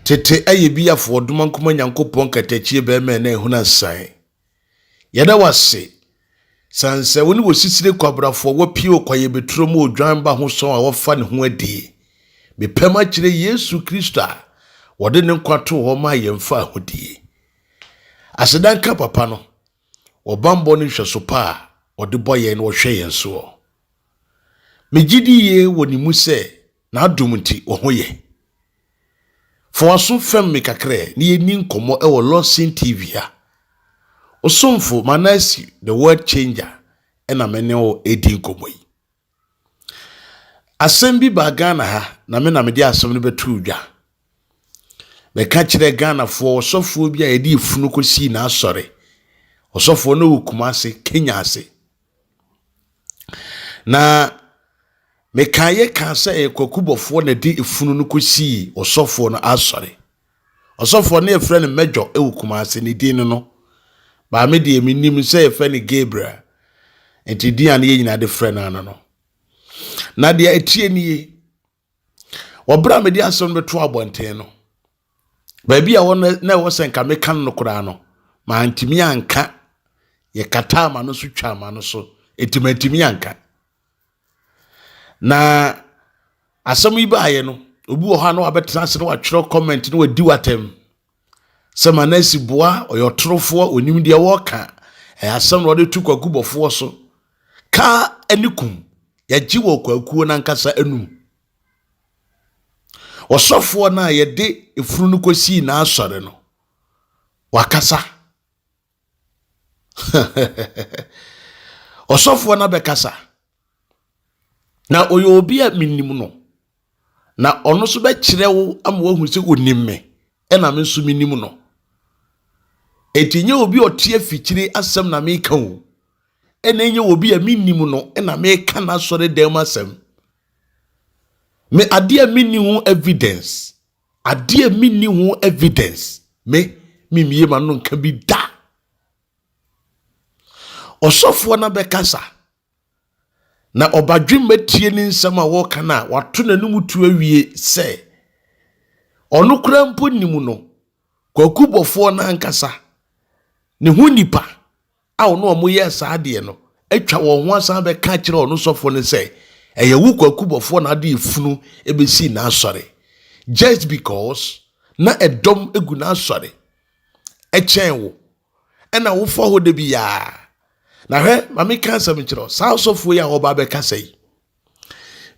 Tete ɛyɛ bi afɔ ɔdoma nkoma nyankopɔn katakyie bɛrima ɛna ehuna san yɛda wase san sɛ wo ne wɔ sisire kwabrafo wɔ pie wɔ kwayɛ beturo mu odwan ba ho sɔn a wɔfa ne ho adie mepɛm akyerɛ yesu kristo a wɔde ne nkwa to hɔ ma yɛmfa ahodie asedanka papa no Ɔbammɔ ne nhwɛso pa a ɔde bɔ yɛn na ɔhwɛ yɛn soɔ. Megye di yie wɔ ne mu sɛ n'adom nti wɔ ho yɛ. Fa w'aso fɛm me kakra na yɛnni nkɔmmɔ wɔ Lawson TV ha. Osomfo Manasi the World Changer na me ne wo redi nkɔmmɔ yi. Asɛm bi baa Ghana ha, na me na mede asɛm no bɛtoo dwa. Mɛka kyerɛ Ghanafoɔ ɔsɔfoɔ bi a yɛde efunu kɔsii n'asɔre. Ɔsɔfoɔ no wɔ Kumase, Kenya ase. Na mekaeɛ kaa sɛ ɛyɛ kwakubɔfoɔ na ɛde efunu no kɔsii ɔsɔfoɔ no asɔre. Ɔsɔfoɔ no yɛfrɛ no Major wɔ Kumasi, ne din no no. Baa me deɛ menim sɛ yɛfrɛ no Gabriel. Nti din a ne yɛ nyinaa de frɛ no ano no. Na deɛ ɛteɛ nie, wɔberɛ a mede asɛm no bɛto abɔnten no, baabi a wɔn na ɛwɔ sɛ nka meka no koraa no, mantumi anka, yɛkataa ma no so twaa ma no so, ɛti mantumi anka. Na asɛm yi baeɛ no, obi wɔ hɔ a na wabɛtena ase na watwerɛ comment na wadi w'atɛm sɛ ma na asi boa ɔyɛ ɔtorofoɔ onim deɛ wɔka ɛyɛ asɛm na wɔde to kwakubɔfoɔ so ka ne kum yɛgye wɔ kwakuo no ankasa anum ɔsɔfoɔ no a yɛde efunu no kɔsii n'asɔre no wakasa ɔsɔfoɔ no abɛkasa na ɔyɛ obi a menim no na ɔno nso bɛkyerɛ wo ama woahu sɛ ɔnim me ɛna me nso menim no ɛnti nyɛ obi ɔte afikyire asɛm na meka o ɛna ɛnyɛ obi a menim no ɛna meka no asɔre dɛm asɛm me adeɛ a menni ho evidence Adeɛ a menni ho evidence me memmie m'ano nka bi da ɔsɔfoɔ no bɛkasa na ɔbadwemma tie ne nsɛm a wɔreka no a wato n'anom tu awie sɛ ɔno koraa mpo nim no kwakubɔfoɔ no ankasa ne ho nipa a ɔne wɔn yɛɛ saa adeɛ no atwa wɔn ho asan bɛka kyerɛ ɔno sɔfoɔ no sɛ ɛyɛ wo kwaku bɔfoɔ na ade efunu ebesii n'asɔre just because na ɛdɔm egu n'asɔre ɛkyɛn wo ɛna wofa hɔ da bi yaa na hwɛ maame ka asɛm kyerɛ saa sɔfoɔ yi a ɔba abɛkasa yi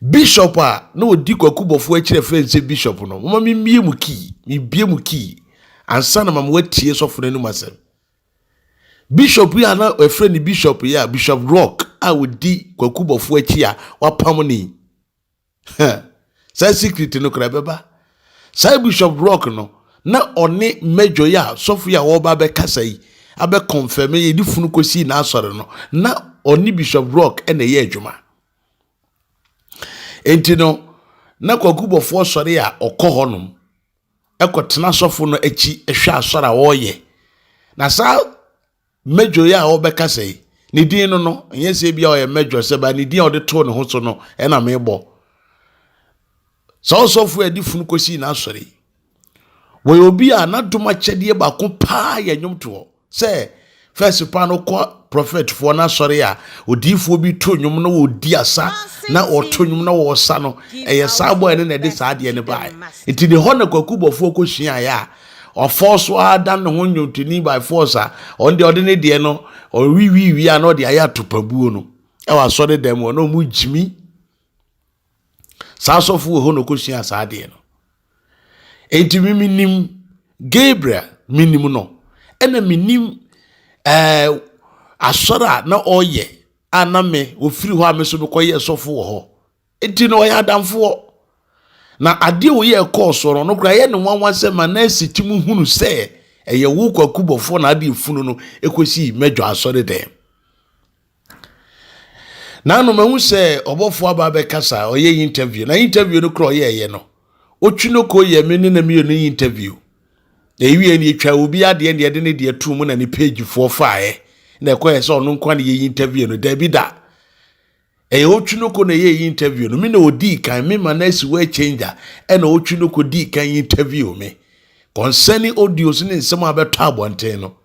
bishop a na ɔdi kwaku bɔfoɔ akyerɛ fɛn sɛ bishop no moma memmie mu kii mebie mu kii ansa na mama watie sɔfo no anim asɛm Bishop yi a na wɔfrɛ no Bishop yi a Bishop Rock a ɔdi Kwaku Bɔfoɔ akyi a wapam no yi. Hɛ, saa secret no koraa ɛbɛba. Saa Bishop Rock no, na ɔne Major yi a sɔfo yi a wɔreba abɛkasa yi abɛkɔmfɛme yɛde funu kɔsii n'asɔre no, na ɔne Bishop Rock na ɛyɛ adwuma. Enti no, na Kwaku Bɔfoɔ sɔre a ɔkɔ hɔnom. kɔtena sɔfo no akyi hwɛ asɔre a ɔreyɛ. Na saa mɛdwo yi a ɔbɛkasa yi, ne din no no, ɛnyɛ sɛ ebi a ɔyɛ mɛdwo sɛ ba ne din a ɔde too ne ho so no ɛna mebɔ. Saa ɔsɔfo a ɛde funu kɔsii n'asɔre yi, wɔyɛ obi a n'adom akyɛdeɛ baako paa yɛ nnwomtoɔ. Sɛ first pa no kɔ prophet foɔ no asɔre a odiifoɔ bi to nnwom na wɔdi asa na ɔto nnwom na wɔsa no ɛyɛ saa bɔɛ no na ɛde saa adeɛ no baeɛ nti ne hɔ na kwaku bɔfoɔ kɔ suaeɛ a ɔfɔɔ so ara da ne ho nnwontoni by force a ɔno deɛ ɔde ne deɛ no ɔwiwiwi a na ɔde ayɛ atopabuo no ɛwɔ asɔre dɛm hɔ na ɔmo gyimi saa asɔfo wɔ hɔ na ɔkɔsuaa saa adeɛ no enti me menim gabriel menim no ɛna menim ɛɛ eh, asɔre a na ɔyɛ a na me ɔfiri hɔ a me so mekɔyɛ sɔfo wɔ hɔ enti na ɔyɛ adamfoɔ na adeɛ a ɔyɛ ɛkɔɔ soɔ no no koraa yɛ ne nwanwa sɛ ma na asi ti mu hunu sɛ ɛyɛ wo kwakubɔfoɔ na adeɛ funu no ɛkɔsii mɛdwa asɔre dɛm Nano mahu sɛ ɔbɔfoɔ aba abɛkasa a ɔyɛ interview na interview no kora ɔyɛɛyɛ no ɔtwi no kɔ yɛ me ne na meyɛ no interview na ɛwie no yɛtwa obi adeɛ na yɛde ne deɛ to mu na ne pagefoɔ faeɛ na ɛkɔyɛ sɛ ɔno nkoa na yɛ interview no daabi da ɛyɛ ɔtwi no kɔ na ɛyɛ interview no me na ɔdii kan me ma no asi wɔ changer ɛna ɔtwi no kɔ dii kan interview me concerning audios ne nsɛm a bɛtɔ abɔnten no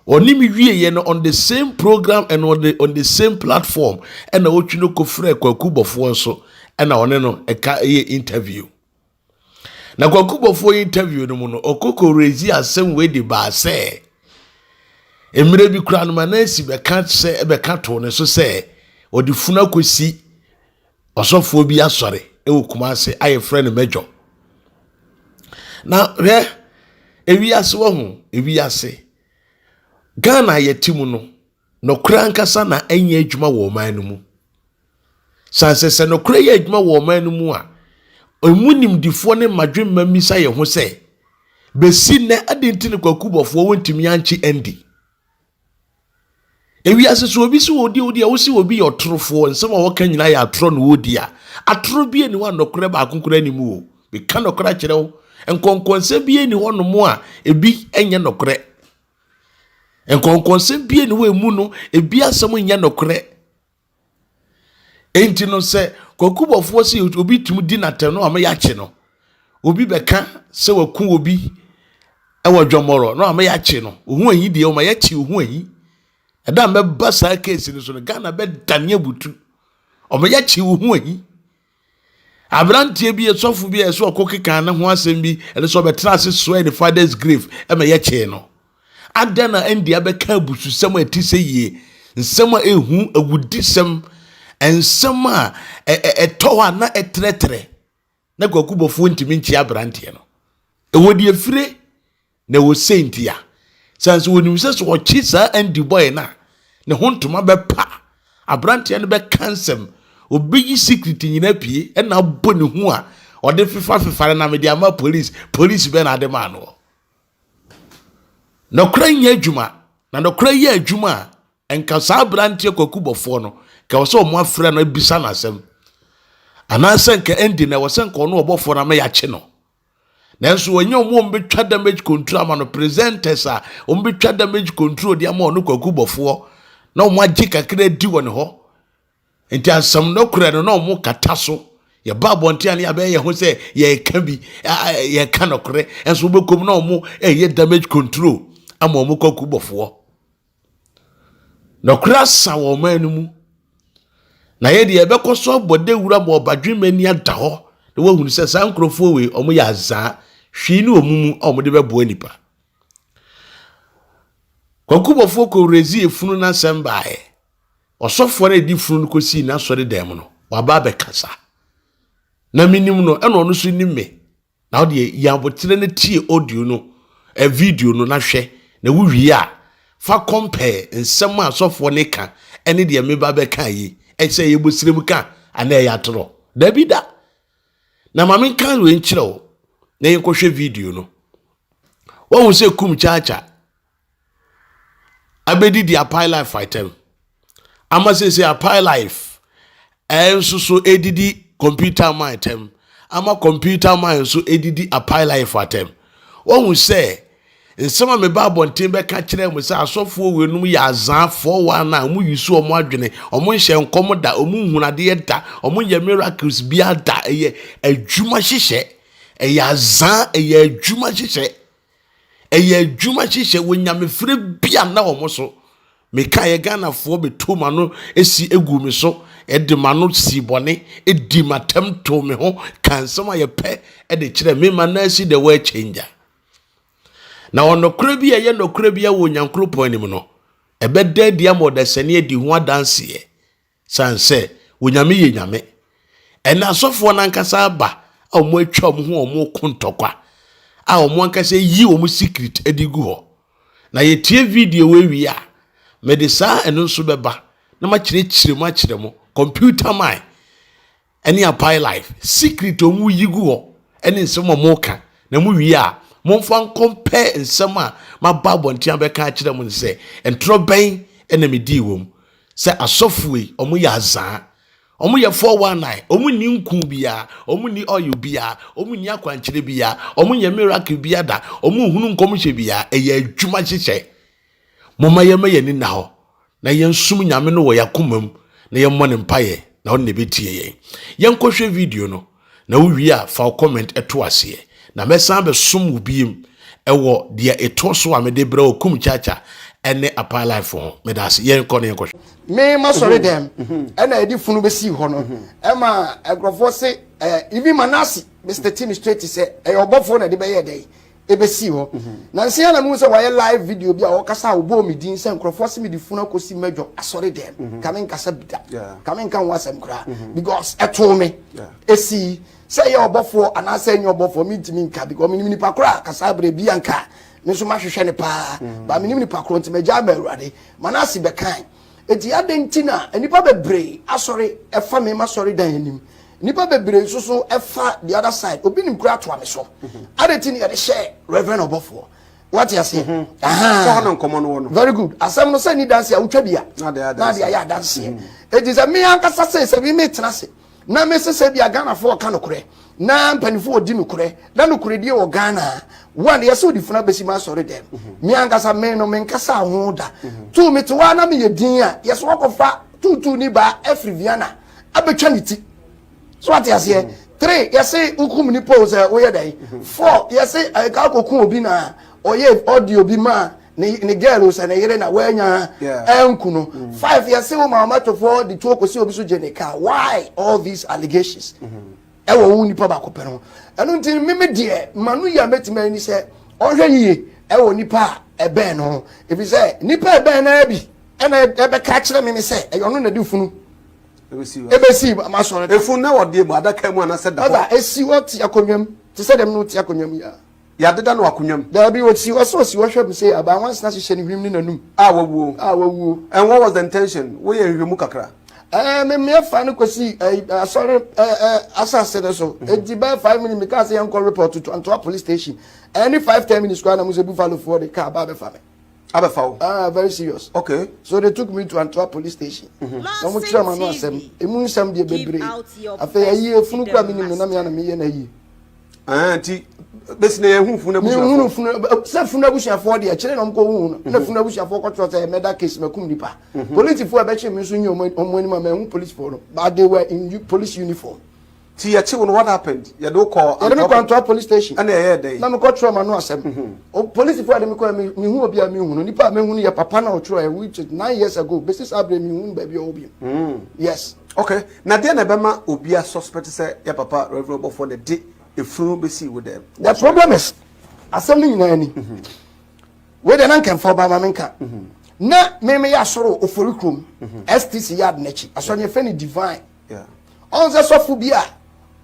Ɔne me wieɛ no on the same program and on the, on the same platform ɛna ɔtwi no kɔfrɛ Kwaku Bɔfoɔ nso ɛna ɔne no ɛka ɛyɛ interview. Na Kwaku Bɔfoɔ interview no mu no ɔkɔkɔ rezi asɛm wei de baa sɛ mmerɛ bi koraa no ma na asi bɛka sɛ ɛbɛka too ne so sɛ ɔde funu akɔsi Ɔsɔfoɔ bi asɔre wɔ Kumase a yɛfrɛ no Major. Na hwɛ, ewiase wɔ ho, ewiase. Ghana a yɛte mu no, nokorɛ ankasa na ɛnyɛ adwuma wɔ ɔman no mu. San sɛ sɛ nokorɛ yɛ adwuma wɔ ɔman no mu a, emu nimdifoɔ ne mmadwemma mmisa yɛn ho sɛ, bɛsi nnɛ adɛn nti ne kwakubɔfoɔ wɔntumi ankye Andy? Ewiase so obi si odi odi a wosi obi yɛ ɔtorofoɔ nsɛm a wɔka nyinaa yɛ atorɔ na odi a atorɔ bi ni hɔ a nɔkorɛ baako koraa ni mu o meka nɔkorɛ akyerɛ wo nkɔnkɔnsɛm bi ni hɔ nom a ebi nyɛ nɔkorɛ nkɔnkɔnsɛm bi ni hɔ emu no ebi asɛm nyɛ nɔkorɛ Enti no sɛ kwakubɔfoɔ se obi tumi di n'atɛm no ama yɛakye no. Obi bɛka sɛ waku obi wɔ dwɔmmɔrɔ no ama yɛakye no. Ohu ahi deɛ ɔma yɛakye ohu ahi. Ɛda mbɛba saa keesi no so no Ghana bɛdane abutu. Ɔma yɛakye ohu ahi. Aberanteɛ bi, sɔfo bi a ɛsɛ ɔkɔ kekaa ne ho asɛm bi, ɛne sɛ ɔbɛtena ase soɛɛ ne father's grave ma yɛkyee no. Adɛn na ɛnde abɛka abususɛm a ɛte sɛ yie, nsɛm a ɛhu awudisɛm, nsɛm a ɛtɔ hɔ a na ɛtrɛtrɛ na kwakubɔfoɔ ntumi nkyea aberanteɛ no. Ɛwɔ deɛ fire Na ɛwɔ sei nti a, sɛ nso wɔnim sɛ sɛ ɔkye saa Andy bɔe no a, ne ho ntoma bɛpa, aberanteɛ no bɛka nsɛm, ɔbɛyi secret nyinaa pie ɛna abɔ ne ho a ɔde fefa fefa no na mede ama police, police bɛn na ade maa no? Nɔkorɛ nyɛ adwuma, na nɔkorɛ yɛ adwuma a, nka saa aberanteɛ kwakubɔfoɔ no, nka ɛwɔ sɛ wɔn afrɛ no abisa no asɛm. Anaasɛ nka Andy na ɛwɔ sɛ nka ɔno ɔbɔfoɔ no ama yɛakye no. Nanso wɔnyɛ wɔn a wɔbɛtwa damage control ama no presenters a wɔbɛtwa damage control de ama ɔno kwaku bɔfoɔ na wɔn agye kakra di wɔ ne hɔ nti asɛm no korɛ no na wɔn kata so yɛba abɔnten a ne yɛabɛyɛ yɛn ho sɛ yɛreka bi yɛreka nɔkorɛ nso wɔbɛkɔm na wɔn ɛyɛ damage control ama wɔn kwaku bɔfoɔ. Nɔkorɛ asa wɔ ɔman no mu. Na yɛ deɛ yɛbɛkɔ so abɔ dawura ma ɔbadwemma ani ada hɔ na wahunu sɛ saa nkurɔfoɔ wei wɔn yɛ azaa hwii ne wɔn mu a wɔn de bɛboa nipa. Kwankubɔfoɔ kɔwurɛzi efunu n'asɛm baeɛ. Ɔsɔfoɔ no a ɛdi funu no kɔsii n'asɔre dan mu no waba abɛkasa. Na menim no ɛna ɔno nso nim me. Na wo deɛ yi aboterɛ na tie audio no eh, video no na hwɛ na wo wie a fa compare nsɛm a sɔfoɔ no ka ɛne deɛ meba bɛka yi ɛsɛ ɛyɛ bosirem ka anaa ɛyɛ atorɔ dabi da na ma menka wei nkyerɛ wo na yɛnkɔhwɛ video no wahu sɛ kum kyaakya abɛdi deɛ apae life atɛm ama sese apae life ɛnso so ɛdidi computer man atɛm ama computer man nso ɛdidi apae life atɛm wɔhu sɛ nsɛm a meba abɔnten bɛka kyerɛ mu sɛ asɔfoɔ wɛnum yɛ azaafoɔ wɔn a wɔn yi so wɔn adwene wɔn nhyɛ nkɔm da wɔn nhunadeɛ da wɔn yɛ miracles bia da ɛyɛ adwuma hyehyɛ ɛyɛ azaa ɛyɛ adwuma hyehyɛ Ɛyɛ adwuma hyehyɛ wɔ nyamefrɛ bi a na wɔn so. Meka yɛ Ghanafoɔ bɛtu m'ano si gu me so, de m'ano sii bɔne, di m'atam too me ho, ka nsɛm a yɛpɛ de kyerɛ me ma na asi the world changer. Na ɔnɔkorɛ bi a ɛyɛ nɔkorɛ bi wɔ Onyankopɔn anim no, ɛbɛda adi ama ɔdasani adi ho adanseɛ. San sɛ Onyame yɛ Nyame. Ɛna asɔfoɔ no ankasa aba a wɔn atwa wɔn ho a wɔn ko ntɔkwa a wɔn ankasa yi wɔn secret de gu hɔ. Na yɛtie video wei wie a, mede saa ɛno nso bɛba na makyerɛkyerɛ mu akyerɛ mo, computer man. ɛne apae life secret ɔmo yi gu hɔ ɛne nsɛm a ɔmo ka na mo wie a momfa nkɔmpɛ nsɛm a maba abɔnten abɛka akyerɛ mo no sɛ ntorɔ bɛn ɛna medii wɔm sɛ asɔfoɔ yi ɔmo yɛ azaa ɔmo yɛ 419 ɔmo nni nku biara ɔmo nni oil biara ɔmo nni akwankyerɛ biara ɔmo nyɛ miracle biara da ɔmo nhunu nkɔmhyɛ biara ɛyɛ adwuma hyehyɛ moma yɛma yɛni nna hɔ Na yɛnsom Nyame no wɔ yɛakoma mu na yɛmmɔ ne mpaeɛ na ɔno na ɛbɛtie yɛn. Yɛnkɔhwɛ video no na wowie a fa wo comment to aseɛ na mɛsan bɛsom wo biem ɛwɔ deɛ ɛtoɔ so a mede brɛ wɔ Kum Chacha ɛne Apaa Life ho. Meda ase. Yɛnkɔ na yɛnkɔhwɛ. Me masɔre dɛm ɛna yɛde funu bɛsii hɔ no ɛma nkurɔfoɔ se even Manase Mister Timi straight sɛ ɛyɛ ɔbɔfoɔ na ɛde bɛyɛɛ dɛn ɛbɛsii hɔ. Nansa yi ara na mehu sɛ wɔayɛ live video bi a wɔkasa a wɔbɔɔ me din sɛ nkurɔfoɔ se mede funu akɔsi mmɛdwɔ asɔre dɛm. Ka menkasa bi da. Ka menka ho asɛm koraa. Because ɛtoo me. Ɛsii. Sɛ ɛyɛ ɔbɔfoɔ anaasɛ ɛnyɛ ɔbɔfoɔ mentumi nka because menim nipa korɔ a kasa berɛ bi anka me nso mahwehwɛ no paa. But menim nipa korɔ nti magyae ma Awurade. Manase bɛkae. Enti adɛn nti na nnipa bebree asɔre fa me m'asɔredan anim? Nnipa bebree nso so fa the other side. Obi nim koraa toa me so. Mhm. Adɛn nti na yɛde hyɛ Reverend ɔbɔfoɔ? Wate aseɛ? Mhm. Sɛ hɔ na nkɔmmɔ no wɔ no. Very good. Asɛm no sɛ ni danse a wotwa bi a. Na de ayɛ adanseɛ. Enti sɛ me ankasa sɛ sɛ me metena ase. na me se sɛ bia Ghana foɔ ɔka nokorɛ na mpanifoɔ ɔdi nokorɛ na nokorɛdie wɔ Ghana one yɛse ɔde funu abɛsi ma asɔre dɛm mhm. me ankasa me no menkasa ho da mhm. tu me te hɔ na meyɛ din a yɛse wakɔfa tutu ni baa afiri Viana abɛtwa ne ti so ate aseɛ mhm. three yɛse wokum nipa o sɛ woyɛ dɛn four yɛse ɛka eh, kɔku obi na ɔyɛ ɔde obi maa ne ne girl no sɛ ne yere na wanya anku no five yɛse wo ma ɔmatofoɔ de tuo kɔsi obi so gye ne kaa why all these allegations ɛwɔ wo nipa baako pɛ no ɛno nti meme deɛ ma no yɛ mɛtumi ani sɛ ɔhwɛ yie ɛwɔ nipa a ɛbɛn no ho ɛfiri sɛ nipa ɛbɛn no bi ɛna ɛbɛka kyerɛ me ne sɛ ɛyɛ ɔno na de funu ɛbɛsi masɔre ɛfunu na wɔdeɛ mu adaka mu anasɛ da hɔ ɛsi hɔ te akonnwa mu te sɛ dɛm no te akonnwa mu yɛ Yɛadeda no akonnwa mu. Daabi, ɔsi hɔ sɛ ɔsi hɔ hwɛ me sɛ abaa nwansena hyehyɛ ne hwenem ne n'anom a wawuo, a wawuo. And what was the intention? Woyɛ nhwehwɛmu kakra. Ɛɛ, memmeɛ faa no kɔsii ɛyi, asɔre ɛ, ɛ, asase no so. Enti bɛyɛ five minutes, mekaa sɛ yɛnkɔ report to Antoa Police Station. Ɛnni five, ten minutes koraa na mohu sɛ Buffalofoɔ de kaa ba abɛfa me. Abɛfa wo? Ah, very serious. Okay. So they took me to Antoa Police Station. Na wɔkyerɛɛ m'ano asɛm, emu nsɛm deɛ bebree. Afei, ayie, funu koraa mennim no, na me ara na meyɛ no ayie. Ah, ti bɛsi na yɛhu funu abusuafoɔ. Yɛhunu funu sɛ funu abusuafoɔ deɛ kyerɛ na wɔn kɔ hu na funu abusuafoɔ kɔtɔ sɛ mɛda case mɛkum nipa. Mhm. Polisifoɔ a ɛbɛkye mi nso nye wɔn anim a mɛhu polisifoɔ no but they were in police uniform. Ti yɛkye wɔn what happened? Yɛde wokɔ Antwerp. Yɛde mi kɔ Antwerp police station. Ɛna ɛyɛ dɛ. Na mi kɔ twerɛ ma no asɛm. Mhm. Polisifoɔ a yɛde mi kɔ mi hu obi a mi hu no nipa a mi hu no yɛ papa na ɔtwerɛ which is nine years ago besi saa abirɛ mi hu no baabi a ɔwɔ bi. Mhm. Yes. Okay. Na deɛn na ɛbɛma obi a suspect sɛ yɛ papa Rev Ɔbɔfoɔ na ɛde efunu no bɛsii wo dan mu? The problem is asɛm no nyinaa ni wei deɛ na nka mfa ɔbaa ma me nka na me meyɛ asɔre ofori kurom stc yard n'akyi asɔre yɛfrɛ no divine ɔn sɛ sɔfo bi a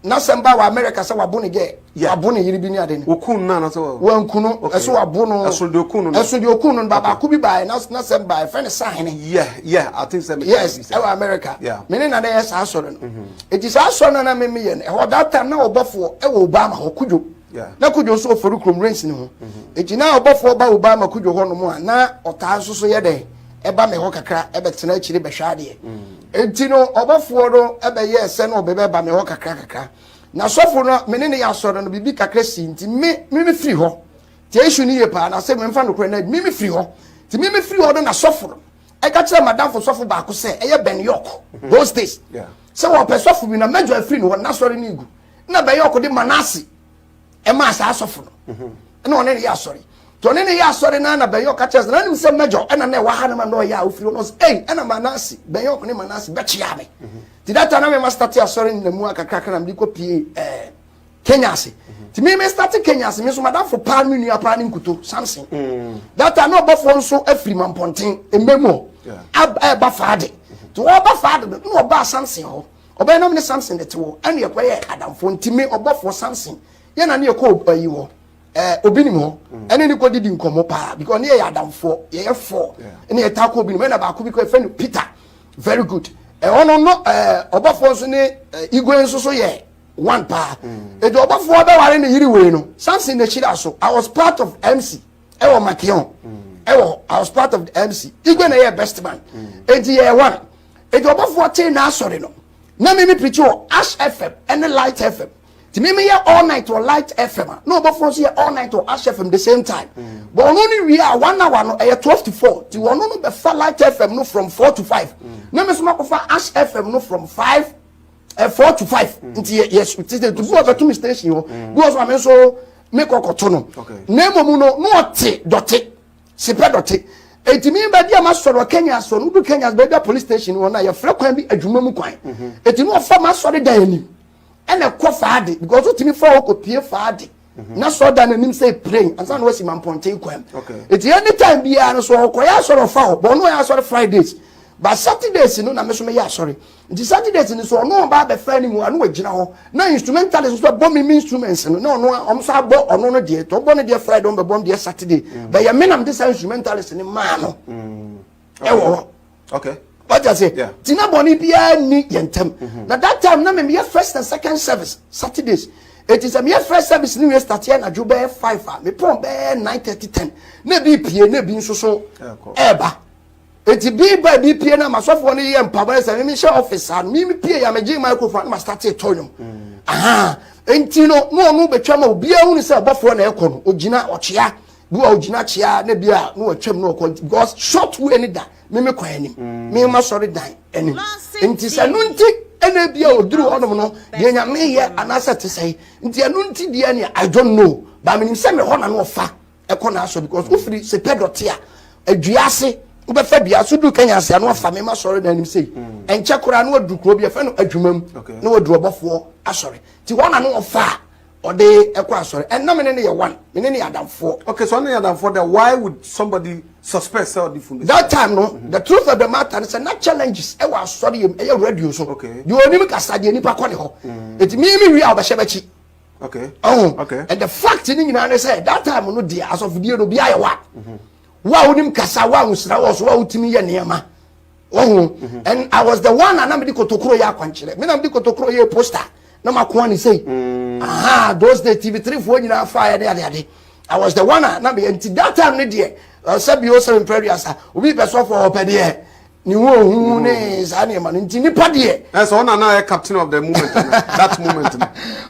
N'asɛm ba wɔ America sɛ wabo ne gɛ, wabo ne yere bi ne ade no. Okun no anasɛ wɔ. Wanku no, ɛso wabo no. Ɛso deɛ okun no no. Ɛso deɛ okun no no, baako bi baeɛ, n'asɛm baeɛ, fɛ ne sahene. Yeah, yeah, I think sɛ me ka Yes, ɛwɔ America. Yeah. Me ne na na yɛ saa asɔre no. Mm-hmm. Eti saa asɔre no na me me yɛ no, ɛhɔ that time na ɔbɔfoɔ ɛwɔ Obama hɔ, Kudwo. Yeah. Na Kudwo nso ɔfɔri kurom rains ne ho. Mm-hmm. Eti na ɔbɔfoɔ ba Obama Kudwo hɔ nom a, na ɔtaa nso so yɛ dɛ, ɛba me hɔ kakra, ɛbɛtena akyire bɛhwɛ adeɛ. Mm. Enti no ɔbɔfoɔ no bɛyɛɛ sɛ na ɔbɛbɛba me hɔ kakra kakra. Na sɔfo no a me ne no yɛ asɔre no, biribi kakra sii nti, me, me, mefiri hɔ. Tie issue no yie paa, na sɛ memfa nokorɛ no adi, me, mefiri hɔ. Nti me, mefiri hɔ no na sɔfo no ɛka kyerɛɛ m'adamfo sɔfo baako sɛ, ɛyɛ Ben York, mm-hmm. those days, sɛ wɔpɛ sɔfo bi na Major afiri ne hɔ, n'asɔre no regu, na Ben York de Manasseh ɛmaa saa asɔfo no mhm. ɛna ɔne ne yɛ asɔre nti ɔne ne yɛ asɔre na na bɛnyɛ ɔka kyerɛ sɛ na nim sɛ mɛgyɔ ɛna na ɛwɔ ha no ma na ɔyɛ a ofiri hɔ no ɔsɛ ɛyi ɛna manase bɛnyɛ ɔkone manase bɛkyea me mhm. nti data na mema starte asɔre no na mu akakrakra na mede kɔ pie ɛɛ kenya ase mhm. nti meme starte kenya ase me nso madamfo paa me nua paa ne nkuto samson data na ɔbɔfoɔ nso afiri mampɔnten mmɛ mu hɔ ɛba faade nti wɔba faade no na ɔbaa samson hɔ Ɔbɛyɛ nam ne Samson de te wɔ ɛne ɛkɔ yɛ adamfo nti me ɔbɔfoɔ Samson yɛ na ne yɛ kɔ ayi hɔ ɛɛ obi nim hɔ ɛne ne kɔ didi nkɔmɔ paa because ne yɛ yɛ adamfoɔ yɛ yɛ fɔ ne yɛ taa kɔ obi nim ɛna baako bi kɔ ɛfɛ no Peter very good ɛhɔ no no ɛɛ ɔbɔfoɔ nso ne igwe nso so yɛ one paa etu mm. ɔbɔfoɔ bɛware ne yiri wei no Samson na ekyir aso I was part of MC ɛwɔ Makeon ɛwɔ mm. I was part of the MC igwe na yɛ best man eti mm. yɛ one. Enti ɔbɔfoɔ tee n'asɔre no. Na me me preachi wɔ Ash FM ɛne Light FM. Nti me me yɛ all night wɔ Light FM a na ɔbɔfoɔ nso yɛ all night wɔ Ash FM the same time. Mm. But ɔno no wie a one hour no ɛyɛ twelve to four. Nti mm. ɔno no bɛfa Light FM no from four to five. Mm. Na me nso makɔfa Ash FM no from five eh, four to five. Mm. Nti yɛ yɛ ti ti ti bu ɔbɛto mi station hɔ. Mm. Bu ɔsɔ ma me nso me kɔkɔto no. Okay. Na emu no na ɔte dɔte. Sepɛ dɔte. Eti mi bɛ deɛ ma sɔrɔ wɔ Kenya so no du Kenya baabi a police station wɔ no a yɛfrɛ kwan bi adwuma mu kwan. Eti no ɔfa ma sɔre dan anim ɛna ɛkɔ faade because wotumi fa hɔ kɔ pie faade na sɔrɔ dan anim sɛ plane ansa na wasi ma mpɔnten kwan. Eti anytime biara no so ɔkɔyɛ asɔre ɔfa hɔ bɔ ɔno ɔyɛ asɔre Fridays ba Saturdays no na me so meyɛ asɔre. Nti Saturdays no so ɔno ɔba abɛfɛ ne mu ano agyina hɔ na instrumentalist nso bɛbɔ me me instruments no na ɔno a ɔmo saa bɔ ɔno no deɛ tɔn bɔ no deɛ Friday ɔmo bɛbɔ ɔmo deɛ Saturday mm. bɛyɛ me nam de saa instrumentalist ne maa no mm. ɛwɔ hɔ. Okay. wagya sɛ nti na bɔne biara nni yɛn ntam mm-hmm. na that time na memeyɛ first and second service saturdays ɛti sɛ meyɛ first service ne wiɛ stateɛ anadwo bɛyɛ five a mepɔn bɛyɛ nine thirty ten na ebi pie na ebi nso so ɛɛba. Enti bee baa bi pie na masɔfoɔ no yɛ mpaboa sɛ mimi hyɛ ɔfis saa no mimi pie ya megye microphone na mastate tɔ nnwom aha enti no na ɔno bɛtwa ma obiara hunu sɛ ɔbɔfoɔ na ɛkɔ no ogyina ɔkyea bi a ogyina kyea na bi a na ɔtwam na ɔkɔ because short way ne da mimi kɔ anim mimi ma sɔre dan anim enti sɛ no nti ɛna bi a oduru hɔnom no deɛ nyame yɛ anaasɛ te sɛ nti ɛno nti deɛ nea I don't know ba menim sɛ me hɔ na no ɔfa ɛkɔ n'asɔ because wofiri sɛ pɛ dɔte a adua ase wobɛfa dua so du kanya ase ano afa mema sɔre na anim sei hmm. ɛnkyɛ koraa na wadu kuro bi ɛfɛ no adwuma mu na wadu ɔbɔfoɔ asɔre nti wɔn na no wɔfa a ɔde ɛkɔ asɔre ɛnna mene ne yɛ one mene ne yɛ adamfoɔ. okay so ɔne yɛ adamfoɔ dɛ why would somebody suspect sɛ ɔde funu. that time no mm-hmm. the truth of the matter is na challenges ɛwɔ asɔre yɛ mu ɛyɛ radio so. okay deɛ onim kasa deɛ nipa kɔ ne hɔ eti mi mi wi a ɔbɛhyɛ bɛkyi. okay oh okay and the fact ni nyinaa ne sɛ that time no deɛ asɔfodie no obiara yɛ wa mhm. wo a wonim kasa wo a wosira wɔ so wo a wotumi yɛ nneɛma wɔho mhm. and i was the one a na mede kotokoro yɛ akwankyerɛ me na mede kotokoro yɛ poster na makoa ne sei mm. aha those day tv three foɔ nyinaa fa yɛ ne adeade i was the one a na meyɛ nti that time no deɛ sɛ bio sɛ mprɛ duasa obi pɛ sɔfoɔ ɔpɛ deɛ ne ho ohu mm-hmm. ne saa nneɛma no nti nipa deɛ. ɛ sɛ ɔna na yɛ captain of the moment that moment no.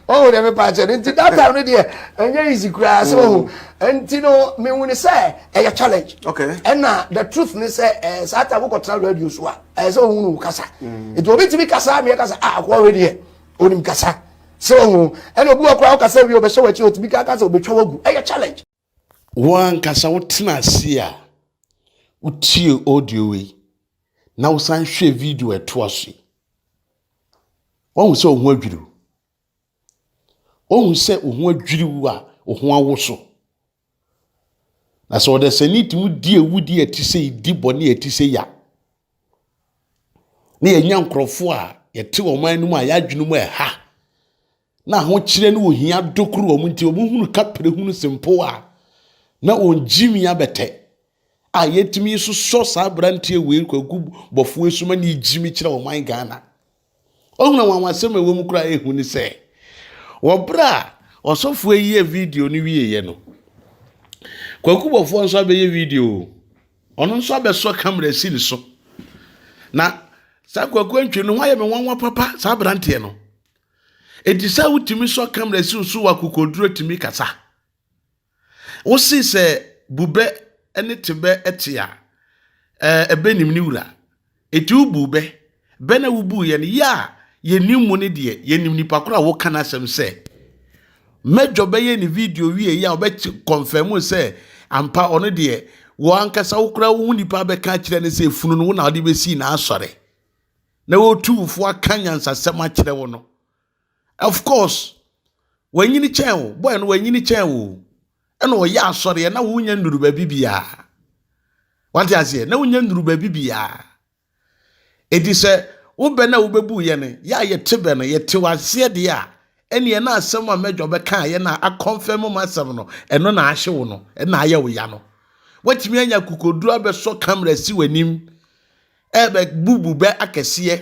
ɔwɔ dɛ mepa akyɛ no nti that time no deɛ ɛnyɛ easy koraa sɛ ɔho nti no mehu ne sɛ ɛyɛ challenge. okay ɛna the truth ne sɛ ɛɛ saa time wokɔtena radio so a ɛyɛ sɛ ɔhu no kasa mm. nti obi tumi kasa meɛ kasa a akɔɔ wɛ deɛ onim kasa sɛ ɔho ɛna obi wɔ koraa wokasa wie ɔbɛhyɛ wɔ akyi otumi kasa obɛtwa wagu ɛyɛ challenge. Wo ankasa wotena ase a wotie audio wei na wosan hwɛ video ɛtoa so yi wahu sɛ wo ho adwiriw wahu sɛ wo ho adwiriw a wo ho awo so na sɛ ɔdasani tumi di awudi a ɛte sɛ di bɔne a ɛte sɛ ya na yɛnya nkurɔfoɔ a yɛte wɔn anom a yɛadwene mu ɛha na ahokyerɛ ne ohia dokoro wɔn nti wɔn hunu kapere hunu se mpo a na wɔn gyimi abɛtɛ a yɛtumi nso sɔ saa aberanteɛ wei kwaku bɔfoɔ esuma ne gyimi kyerɛ wɔn man ghana ɔhunu wɔn asɛm a ɛwɔ mu koraa ehu ne sɛ wɔ bere a ɔsɔfoɔ yi yɛ video no wie yɛ no kwaku bɔfoɔ nso abɛyɛ video ɔno nso abɛsɔ kamera si ne so na saa kwaku antwi no ho ayɛ me nwanwa papa saa aberanteɛ no. Enti sɛ wotumi sɔ kamera siw so wɔ akokoduru atumi kasa. Wose sɛ bubɛ ne tebɛ te a, ɛɛ ɛbɛ nim ne wura. Enti wobuu bɛ. Bɛ na wobuu yɛn. Yɛ a yɛnim mo no deɛ, yɛnim nipa koro a woka n'asɛm sɛ. Mɛdwɔ bɛyɛ ne video wie yɛ a ɔbɛ kɔnfɛm sɛ ampa ɔno deɛ wɔ ankasa wo koraa wohu nipa bɛka akyerɛ ne sɛ funu no wo na ɔde bɛsii n'asɔre. na wotumfo aka nyansasɛm akyerɛ wo no of course wanyini kyɛn wo boy no wanyini kyɛn wo ɛna ɔyɛ asɔreɛ na wonya nnuru baabi biara wate aseɛ na wonya nnuru baabi biara ɛti sɛ wobɛ no a wobɛbu yɛ no yɛ a yɛte bɛ no yɛte waseɛ deɛ a ɛneɛ na asɛm a mɛdwa bɛka yɛ na akɔmfɛ mu asɛm no ɛno na ahye wo no ɛna ayɛ wo ya no watumi anya kokoduro abɛsɔ kamera si w'anim ɛrebɛbubu bɛ akɛseɛ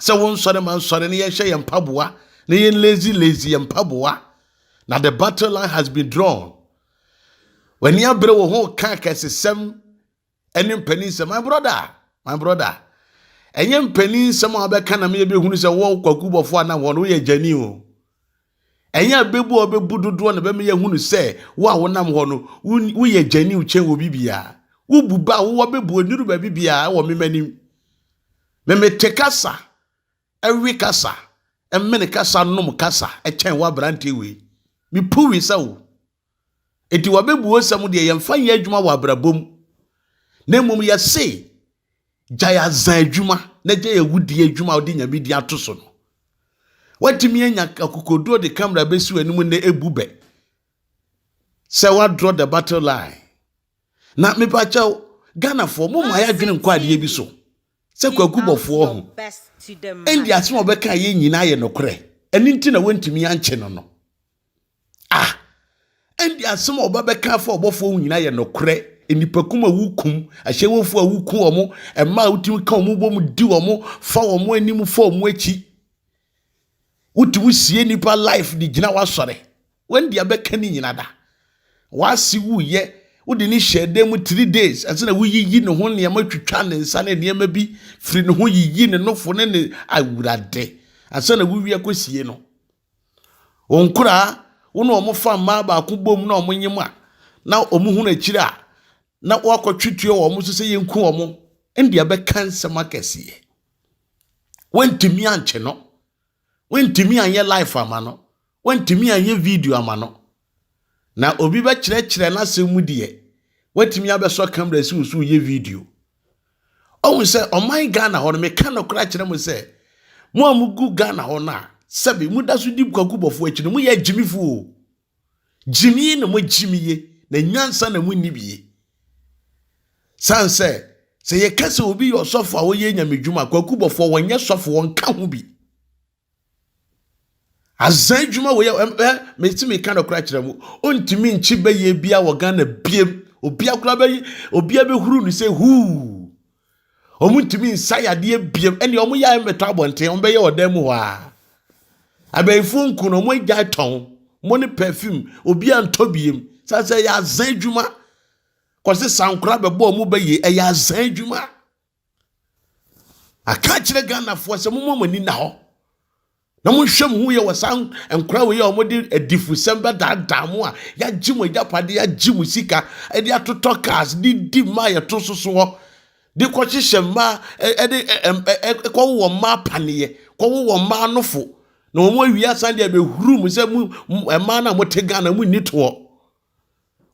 sɛ wo nsɔre ma nsɔre na yɛnhyɛ yɛn mpaboa na yɛn lazy lazy yɛn mpaboa na the battle line has been drawn w'ani abere wo ho ka akɛsesɛm ɛne mpanin sɛ my brother my brother ɛnyɛ mpanin nsɛm a wɔbɛka na meyɛbɛhunu sɛ wɔ kwaku bɔfoɔ a na wɔn woyɛ gyani o Ɛnyɛ abebu a ɔbɛbu dodoɔ na bɛma yɛahunu sɛ wo a wonam hɔ no, woyɛ gyaniw kyɛn obi biara. Wobu ba a wowɔ bebu ɔnnuru baabi biara wɔ mema anim. Memete kasa, ɛwe kasa, ɛmene kasa, nom kasa kyɛn wo aberanteɛ wei. Mepuwisa wo, Enti w'abɛbuosɛm deɛ yɛmfa nyɛ adwuma wɔ abrabɔ mu, na mmom yɛse gyae azan adwuma na gyae awudie adwuma a wode nyame din ato so no. Woatumi anya akokoduo de kamera bɛsi w'anim nnɛ ebu bɛ sɛ woadraw the battle line. Na mepakyɛw Ghanafoɔ mo ma yɛadwene nkɔ adeɛ bi so sɛ kwaku bɔfoɔ ho. Ɛnde asɛm a wɔbɛka yɛ nyinaa yɛ nokorɛ, ɛno nti na wɔntumi ankye no no. Ah! Ɛnde asɛm a ɔba bɛka afa ɔbɔfoɔ ho nyinaa yɛ nokorɛ. Nnipakum a wokum, ahyɛwofoɔ a woku wɔn, mmaa a wotumi ka wɔn bom di wɔn, fa wɔn anim fa wɔn akyi. Wotumi sie nnipa life de gyina w'asɔre. Wɔn deɛ bɛka ne nyina da. W'ase wuyɛ, wode ne hyɛ dan mu three days, ɛsɛ na woyiyi ne ho nneɛma twitwa ne nsa ne nneɛma bi firi ne ho yiyi ne nofo ne ne awurade. Ansa na wowie akɔsie no. Wɔn nkoraa, wo ne wɔn fa mmaa baako bom na wɔnyem a, na wɔhunu akyiri a, na woakɔtwe tuo wɔ wɔn so sɛ yɛnku wɔn. Ɛnde ɛbɛka nsɛm akɛseɛ. Woantumi ankye no. Woantumi anyɛ life ama no. Woantumi anyɛ video ama no. Na obi bɛkyerɛkyerɛ n'asɛm mu deɛ, watumi abɛsɔ kamera si wo so yɛ video. Ɔhu sɛ ɔman Ghana hɔ no, meka nokora kyerɛ mo sɛ, mo a mugu Ghana hɔ no a, sɛbe moda so di kwaku bɔfo akyi no, moyɛ agyimifo o. Gyimie na moagyimie, na nyansa na monni bie. San sɛ, sɛ yɛka sɛ obi yɛ ɔsɔfo a ɔyɛ nyamedwuma, kwaku bɔfo wɔnyɛ sɔfo, wɔnka ho bi. Aza adwuma wei ɛ mesi mi ka nɔkora kyerɛ mu ontumi nkyi bɛyɛ bia wɔ Ghana biem obi akora bɛyi obi abɛhuru no sɛ huu wɔn ntumi nsa yadeɛ biem ɛnna wɔn yɛ mɛtɔ abɔnten wɔn bɛyɛ ɔdan mu hɔ a abɛnfo nku no wɔn agya tɔn wɔn ne pɛfim obi antɔ biem sasɛ yɛ aza adwuma kɔsi sankora bɛbɔ wɔn bɛyɛ ɛyɛ aza adwuma. Aka akyerɛ Ghanafoɔ sɛ momma mo ani nna hɔ na monhwɛ mo ho yɛ wɔ saa nkora wei a wɔde adifusɛm bɛdaadaa mo a yɛagye mo agyapade yɛagye mo sika de atotɔ cars de di mmaa yɛto so so hɔ de kɔhyehyɛ mmaa ɛde kɔwowɔ mmaa paneɛ kɔwowɔ mmaa nofo na wɔn awie asan de abɛhuru mu sɛ mu mmaa no a mote Ghana mu nni toɔ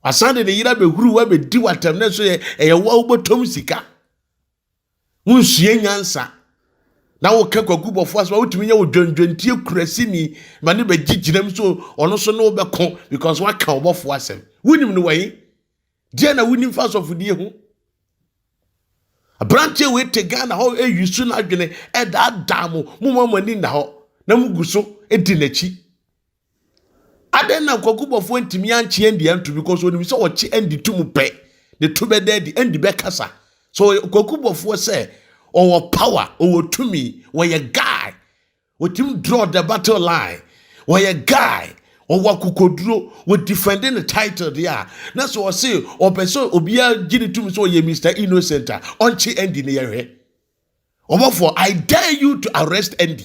Wasan de ne yere abɛhuru wo abɛdi w'atɛm na nso yɛ ɛyɛ wo a wobɔtɔm sika. Wonsua nyansa na woka kwaku bɔfo asɛm a wotumi nyɛ wo dwendwentie kurasini ma ne bɛgye gyinam so ɔno so ne wobɛko because woaka ɔbɔfo asɛm. Wonim no wɔ he? Deɛ na wonim fa asɔfodie ho? aberanteɛ wei te ghana hɔ ɛyi so no adwene ɛdaadaa mo moma mo ani nna hɔ na mogu so di n'akyi Adɛn na Kwaku Bɔfoɔ ntumi ankye Andy anto because onim sɛ ɔkye Andy to mu pɛ ne to bɛda adi Andy bɛkasa so Kwaku Bɔfoɔ sɛ ɔwɔ power ɔwɔ tumi wɔyɛ guy wɔtumi draw the battle line wɔyɛ guy ɔwɔ akokoduro wɔ defend ne title deɛ a na sɛ ɔse ɔpɛ sɛ obiara gye ne tumi sɛ ɔyɛ Mr Innocent a ɔnkye Andy ne yɛhwɛ Ɔbɔfoɔ I dare you to arrest Andy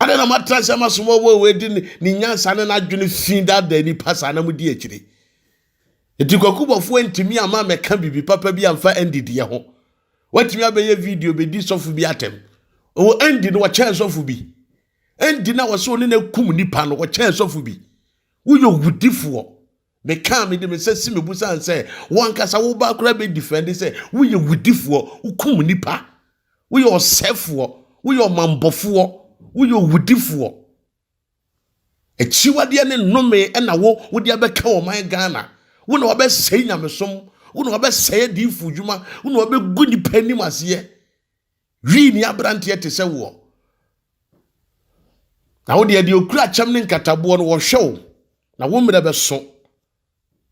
Adɛn na moatra ase ama somɔbɔ wei de ne nyansa ne n'adwene fi daadaa nnipa saa na modi akyire? Enti kwakubɔfoɔ antumi ama mɛka biribi papa bi amfa Andy deɛ ho. Watumi abɛyɛ video bɛdi sɔfo bi atɛm. Ɔwɔ Andy no wɔkyɛn sɔfo bi. Andy na wɔsɛ ɔne no akum nipa no wɔkyɛn sɔfo bi. Woyɛ owudifoɔ. Mekaa me de me nsa si me bo sane sɛ wo ankasa wo ba koraa bɛ difɛnde sɛ woyɛ wudifoɔ, wokum nipa, woyɛ ɔsɛfoɔ, woyɛ ɔmambɔfoɔ, woyɛ owudifoɔ. Akyiwadeɛ ne nnome ɛna wo wode abɛka ɔman Ghana. Wo na wabɛsɛe nyamesom, wo na wabɛsɛe adiifo dwuma, wo na wabɛgu nipa anim aseɛ. Wii ni aberanteɛ te sɛ woɔ. Na wo deɛ deɛ okura kyɛm ne nkataboɔ no wɔhwɛ wo na wo mmerɛ bɛso